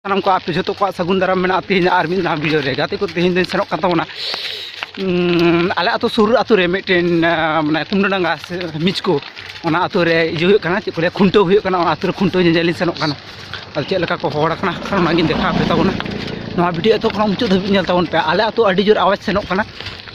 ᱥᱟᱱᱟᱢ ᱠᱚ ᱟᱯᱮ ᱡᱚᱛᱚ ᱠᱚᱣᱟᱜ ᱥᱟᱹᱜᱩᱱ ᱫᱟᱨᱟᱢ ᱢᱮᱱᱟᱜᱼᱟ ᱛᱮᱦᱮᱧ ᱟᱨ ᱢᱤᱫ ᱱᱟᱣᱟ ᱵᱷᱤᱰᱤᱭᱳ ᱨᱮ ᱜᱟᱛᱮ ᱠᱚ ᱛᱮᱦᱮᱧ ᱫᱚᱧ ᱥᱮᱱᱚᱜ ᱠᱟᱱ ᱛᱟᱵᱚᱱᱟ ᱟᱞᱮ ᱟᱹᱛᱩ ᱥᱩᱨ ᱟᱹᱛᱩ ᱨᱮ ᱢᱤᱫᱴᱮᱱ ᱢᱟᱱᱮ ᱠᱩᱢᱰᱟᱰᱟᱸᱜᱟ ᱥᱮ ᱢᱤᱪᱠᱳ ᱚᱱᱟ ᱟᱹᱛᱩ ᱨᱮ ᱤᱭᱟᱹ ᱦᱩᱭᱩᱜ ᱠᱟᱱᱟ ᱪᱮᱫ ᱠᱚ ᱞᱟᱹᱭᱟ ᱠᱷᱩᱱᱴᱟᱹᱣ ᱦᱩᱭᱩᱜ ᱠᱟᱱᱟ ᱚᱱᱟ ᱟᱹᱛᱩ ᱨᱮ ᱠᱷᱩᱱᱴᱟᱹᱣ ᱧᱮᱧᱮᱞ ᱞᱤᱧ ᱥᱮᱱᱚᱜ ᱠᱟᱱᱟ ᱟᱫᱚ ᱪᱮᱫ ᱞᱮᱠᱟ ᱠᱚ ᱦᱚᱲ ᱠᱟᱱᱟ ᱚᱱᱟᱜᱤᱧ ᱫᱮᱠᱷᱟᱣ ᱟᱯᱮ ᱛᱟᱵᱚᱱᱟ ᱱᱚᱣᱟ ᱵᱷᱤᱰᱤᱭᱳ ᱮᱛᱚ ᱠᱷᱚᱱ ᱢᱩᱪᱟᱹᱫ ᱫᱷᱟᱹᱵᱤᱡ ᱧᱮᱞ ᱛᱟᱵᱚᱱ ᱯᱮ ᱟᱞᱮ ᱟᱹᱛᱩ ᱟᱹᱰᱤ ᱡᱳᱨ ᱟᱣᱟᱡᱽ ᱥᱮᱱᱚᱜ ᱠᱟᱱᱟ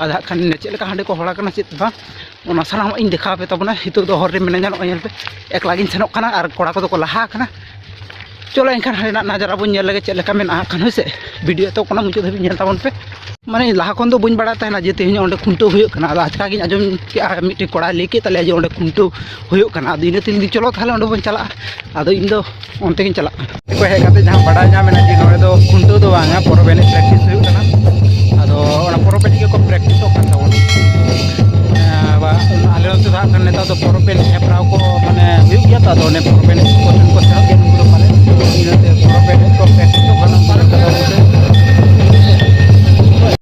ᱟᱫᱚ ᱦᱟᱸᱜ ᱠᱷᱟᱱ ᱪᱮᱫ ᱞᱮᱠᱟ ᱦᱟᱸᱰᱮ ᱠᱚ ᱦᱚᱲ ᱠᱟᱱᱟ ᱪᱮᱫ ᱵᱟᱝ ᱚᱱᱟ ᱥᱟᱱᱟᱢᱟᱜ ᱤᱧ ᱫᱮᱠᱷᱟᱣ ᱯᱮ ᱛᱟᱵᱚᱱᱟ ᱱᱤᱛᱚᱜ ᱫᱚ ᱦᱚᱨ ᱨᱮ ᱢᱤᱱᱟᱹᱧᱟ ᱱᱚᱜᱼᱚᱭ ᱧᱮᱞ ᱯᱮ ᱮᱠᱞᱟ ᱜᱤᱧ ᱥᱮᱱᱚᱜ ᱠᱟᱱᱟ ᱟᱨ ᱠᱚᱲᱟ ᱠᱚᱫᱚ ᱠᱚ ᱞᱟᱦᱟ ᱟᱠᱟᱱᱟ ᱪᱚᱞᱚ ᱮᱱᱠᱷᱟᱱ ᱦᱟᱸᱰᱮᱱᱟᱜ ᱱᱟᱡᱟᱨᱟ ᱵᱚᱱ ᱧᱮᱞ ᱞᱮᱜᱮ ᱪᱮᱫ ᱞᱮᱠᱟ ᱢᱮᱱᱟᱜᱼᱟ ᱠᱷᱟᱱ ᱦᱳᱭ ᱥᱮ ᱵᱷᱤᱰᱤᱭᱳ ᱛᱚ ᱠᱟᱱᱟ ᱢᱩᱪᱟᱹᱫ ᱫᱷᱟᱹᱵᱤᱡ ᱧᱮᱞ ᱛᱟᱵᱚᱱ ᱯᱮ ᱢᱟᱱᱮ ᱞᱟᱦᱟ ᱠᱷᱚᱱ ᱫᱚ ᱵᱟᱹᱧ ᱵᱟᱲᱟᱭ ᱛᱟᱦᱮᱱᱟ ᱡᱮ ᱛᱮᱦᱮᱧ ᱚᱸᱰᱮ ᱠᱷᱩᱱᱴᱟᱹᱣ ᱦᱩᱭᱩᱜ ᱠᱟᱱᱟ ᱟᱫᱚ ᱟᱪᱠᱟ ᱜᱤᱧ ᱟᱸᱡᱚᱢ ᱠᱮᱜᱼᱟ ᱢᱤᱫᱴᱮᱱ ᱠᱚᱲᱟᱭ ᱞᱟᱹᱭ ᱠᱮᱫ ᱛᱟᱞᱮᱭᱟ ᱡᱮ ᱚᱸᱰᱮ ᱠᱷᱩᱱᱴᱟᱹᱣ ᱦᱩᱭᱩᱜ ᱠᱟᱱᱟ ᱟᱫᱚ ᱤᱱᱟᱹ ᱛᱮ ᱤᱧ ᱫᱚ ᱪᱚᱞᱚ ᱛᱟᱦᱚᱞᱮ ᱚᱸᱰᱮ ᱵᱚᱱ ᱪᱟᱞᱟᱜᱼᱟ ᱟᱫᱚ ᱤᱧ ᱫᱚ ᱚᱱᱛᱮ ᱜᱤᱧ ᱪᱟᱞᱟᱜ ᱠᱟᱱᱟ ᱠᱚ ᱦᱮᱡ ᱠᱟᱛᱮ ᱡᱟᱦᱟᱸ ᱵᱟᱰᱟᱭ ᱧᱟᱢ ᱮᱱᱟ ᱡᱮ ᱱᱚᱰᱮ ᱫᱚ ᱠᱷᱩᱱᱴᱟᱹᱣ ᱫᱚ ᱵᱟᱝᱟ ᱯᱚᱨᱚᱵᱽ ᱮᱱᱮᱡ ᱯᱨᱮᱠᱴᱤᱥ ᱦᱩᱭᱩᱜ ᱠᱟᱱᱟ ᱟᱫᱚ ᱚᱱᱟ ᱯᱚᱨᱚᱵᱽ ᱮᱱᱮᱡ ᱜᱮᱠᱚ ᱯᱨᱮᱠᱴᱤᱥᱚᱜ ᱠᱟᱱ ᱛᱟᱵᱚᱱᱟ ᱟᱞᱮ ᱱᱚᱛᱮ ᱫᱚ ᱦᱟᱸᱜ ᱠᱷᱟᱱ ᱱᱮᱛᱟᱨ ᱫᱚ ᱯᱚᱨᱚᱵᱽ ᱮᱱᱮᱡ ᱦᱮᱯᱨᱟᱣ ᱠᱚ ᱢᱟᱱᱮ ᱦᱩᱭᱩᱜ ᱜᱮᱭᱟ ᱛᱚ ᱟᱫᱚ ᱚᱱᱮ ᱯᱚᱨᱚᱵᱽ ᱮᱱᱮᱡ ᱠᱚ ᱴᱷᱮᱱ ᱠᱚ ᱥᱮᱱᱚᱜ ᱜᱮᱭᱟ ᱱᱩᱠᱩ ᱫᱚ ᱯᱟᱞᱮ ᱤᱱᱟᱹᱛᱮ ᱯᱚᱨᱚᱵᱽ ᱮᱱᱮᱡ ᱠᱚ ᱯᱨᱮᱠᱴᱤᱥᱚᱜ ᱠᱟᱱᱟ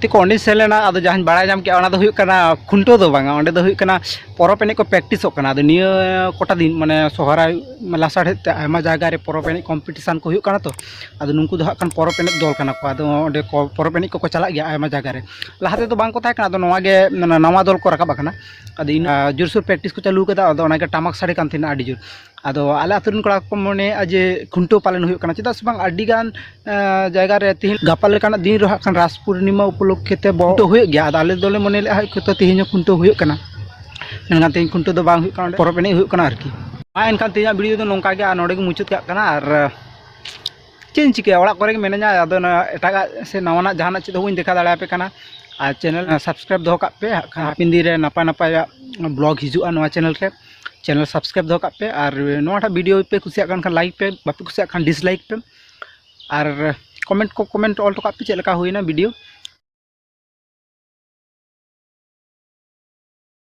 ᱛᱮ ᱠᱚ ᱚᱸᱰᱮᱧ ᱥᱮᱱ ᱞᱮᱱᱟ ᱟᱫᱚ ᱡᱟᱦᱟᱸᱧ ᱵᱟᱲᱟᱭ ᱧᱟᱢ ᱠᱮᱫᱼᱟ ᱚᱱᱟ ᱫᱚ ᱦᱩᱭᱩᱜ ᱠᱟᱱᱟ ᱠᱷᱩᱱᱴᱟᱹᱣ ᱫᱚ ᱵᱟᱝᱟ ᱚᱸᱰᱮ ᱫᱚ ᱦᱩᱭᱩᱜ ᱠᱟᱱᱟ ᱯᱚᱨᱚᱵᱽ ᱮᱱᱮᱡ ᱠᱚ ᱯᱨᱮᱠᱴᱤᱥᱚᱜ ᱠᱟᱱᱟ ᱟᱫᱚ ᱱᱤᱭᱟᱹ ᱠᱚᱴᱟ ᱫᱤᱱ ᱢᱟᱱᱮ ᱥᱚᱦᱨᱟᱭ ᱞᱟᱥᱟᱲᱦᱮᱫ ᱛᱮ ᱟᱭᱢᱟ ᱡᱟᱭᱜᱟ ᱨᱮ ᱯᱚᱨᱚᱵᱽ ᱮᱱᱮᱡ ᱠᱚᱢᱯᱤᱴᱤᱥᱮᱱ ᱠᱚ ᱦᱩᱭᱩᱜ ᱠᱟᱱᱟ ᱛᱚ ᱟᱫᱚ ᱱᱩᱠᱩ ᱫᱚ ᱦᱟᱸᱜ ᱠᱷᱟᱱ ᱯᱚᱨᱚᱵᱽ ᱮᱱᱮᱡ ᱫᱚᱞ ᱠᱟᱱᱟ ᱠᱚ ᱟᱫᱚ ᱚᱸᱰᱮ ᱠᱚ ᱯᱚᱨᱚᱵᱽ ᱮᱱᱮᱡ ᱠᱚᱠᱚ ᱪᱟᱞᱟᱜ ᱜᱮᱭᱟ ᱟᱭᱢᱟ ᱡᱟᱭᱜᱟ ᱨᱮ ᱞᱟᱦᱟ ᱛᱮᱫᱚ ᱵᱟᱝ ᱠᱚ ᱛᱟᱦᱮᱸ ᱠᱟᱱᱟ ᱟᱫᱚ ᱱᱚᱣᱟ ᱜᱮ ᱱᱟᱣᱟ ᱫᱚᱞ ᱠᱚ ᱨᱟᱠᱟᱵ ᱟᱠᱟᱱᱟ ᱟᱫᱚ ᱤᱱᱟᱹ ᱡᱳᱨᱥᱳᱨ ᱯᱨᱮᱠᱴᱤᱥ ᱠᱚ ᱪᱟᱹᱞᱩ ᱠᱟᱫᱟ ᱟᱫᱚ ᱚᱱᱟᱜᱮ ᱴᱟᱢᱟᱠ ᱥᱟᱰᱮ ᱠᱟᱱ ᱛᱟᱦᱮᱱᱟ ᱟᱹᱰᱤ ᱡᱳᱨ ᱟᱫᱚ ᱟᱞᱮ ᱟᱹᱛᱩ ᱨᱮᱱ ᱠᱚᱲᱟ ᱠᱚᱠᱚ ᱢᱚᱱᱮᱭᱮᱫᱼᱟ ᱡᱮ ᱠᱷᱩᱱᱴᱟᱹᱣ ᱯᱟᱞᱮᱱ ᱦᱩᱭᱩᱜ ᱠᱟᱱᱟ ᱪᱮᱫᱟᱜ ᱥᱮ ᱵᱟᱝ ᱟᱹᱰᱤ ᱜᱟᱱ ᱡᱟᱭᱜᱟ ᱨᱮ ᱛᱮᱦᱮᱧ ᱜᱟᱯᱟ ᱞᱮᱠᱟᱱᱟᱜ ᱫᱤᱱ ᱨᱮᱦᱚᱸ ᱦᱟᱸᱜ ᱠᱷᱟᱱ ᱨᱟᱥ ᱯᱩᱨᱱᱤᱢᱟ ᱩᱯᱚᱞᱚᱠᱠᱷᱮ ᱛᱮ ᱠᱷᱩᱱᱴᱟᱹᱣ ᱦᱩᱭᱩᱜ ᱜᱮᱭᱟ ᱟᱫᱚ ᱟᱞᱮ ᱫᱚᱞᱮ ᱢᱚᱱᱮ ᱞᱮᱫᱼᱟ ᱦᱳᱭᱛᱳ ᱛᱮᱦᱮᱧ ᱦᱚᱸ ᱠᱷᱩᱱᱴᱟᱹᱣ ᱦᱩᱭᱩᱜ ᱠᱟᱱᱟ ᱢᱮᱱᱠᱷᱟᱱ ᱛᱮᱦᱮᱧ ᱠᱷᱩᱱᱴᱟᱹᱣ ᱫᱚ ᱵᱟᱝ ᱦᱩᱭᱩᱜ ᱠᱟᱱᱟ ᱯᱚᱨᱚᱵᱽ ᱮᱱᱮᱡ ᱦᱩᱭᱩᱜ ᱠᱟᱱᱟ ᱟᱨᱠᱤ ᱢᱟ ᱮᱱᱠᱷᱟᱱ ᱛᱮᱦᱮᱧᱟᱜ ᱵᱷᱤᱰᱤᱭᱳ ᱫᱚ ᱱᱚᱝᱠᱟ ᱜᱮ ᱟᱨ ᱱᱚᱰᱮ ᱜᱮ ᱢᱩᱪᱟᱹᱫ ᱠᱟᱜ ᱠᱟᱱᱟ ᱟᱨ ᱪᱮᱫ ᱤᱧ ᱪᱤᱠᱟᱹᱭᱟ ᱚᱲᱟᱜ ᱠᱚᱨᱮ ᱜᱮ ᱢᱤᱱᱟᱹᱧᱟ ᱟᱫᱚ ᱚᱱᱟ ᱮᱴᱟᱜᱟᱜ ᱥᱮ ᱱᱟᱣᱟᱱᱟᱜ ᱡᱟᱦᱟᱱᱟᱜ ᱪᱮᱫ ᱦᱚᱸ ᱵᱟᱹᱧ ᱫᱮᱠᱷᱟᱣ ᱫᱟᱲᱮᱭᱟᱯᱮ ᱠᱟᱱᱟ ᱟᱨ ᱪᱮᱱᱮᱞ ᱥᱟᱵᱥᱠᱨᱟᱭᱤᱵᱽ ᱫᱚᱦᱚ ᱠᱟᱜ ᱯᱮ ᱦᱟᱯᱮᱱ ᱫᱤᱱ ᱨᱮ ᱱᱟᱯᱟᱭ ᱱᱟᱯᱟᱭᱟᱜ ᱵᱞᱚᱜᱽ ᱦᱤᱡᱩᱜᱼᱟ ᱱᱚᱣᱟ ᱪᱮᱱᱮᱞ ᱨᱮ ᱪᱮᱱᱮᱞ ᱥᱟᱵᱥᱠᱨᱟᱭᱤᱵᱽ ᱫᱚᱦᱚ ᱠᱟᱜ ᱯᱮ ᱟᱨ ᱱᱚᱣᱟᱴᱟᱜ ᱵᱷᱤᱰᱤᱭᱳ ᱯᱮ ᱠᱩᱥᱤᱭᱟᱜ ᱠᱟᱱ ᱠᱷᱟᱱ ᱞᱟᱭᱤᱠ ᱯᱮ ᱵᱟᱯᱮ ᱠᱩᱥᱤᱭᱟᱜ ᱠᱷᱟᱱ ᱰᱤᱥᱞᱟᱭᱤᱠ ᱯᱮ ᱟᱨ ᱠᱚᱢᱮᱱᱴ ᱠᱚ ᱠᱚᱢᱮᱱᱴ ᱚᱞ ᱦᱚᱴᱚ ᱠᱟᱜ ᱯᱮ ᱪᱮᱫ ᱞᱮᱠᱟ ᱦᱩᱭᱱᱟ ᱵᱷᱤᱰᱤᱭᱳ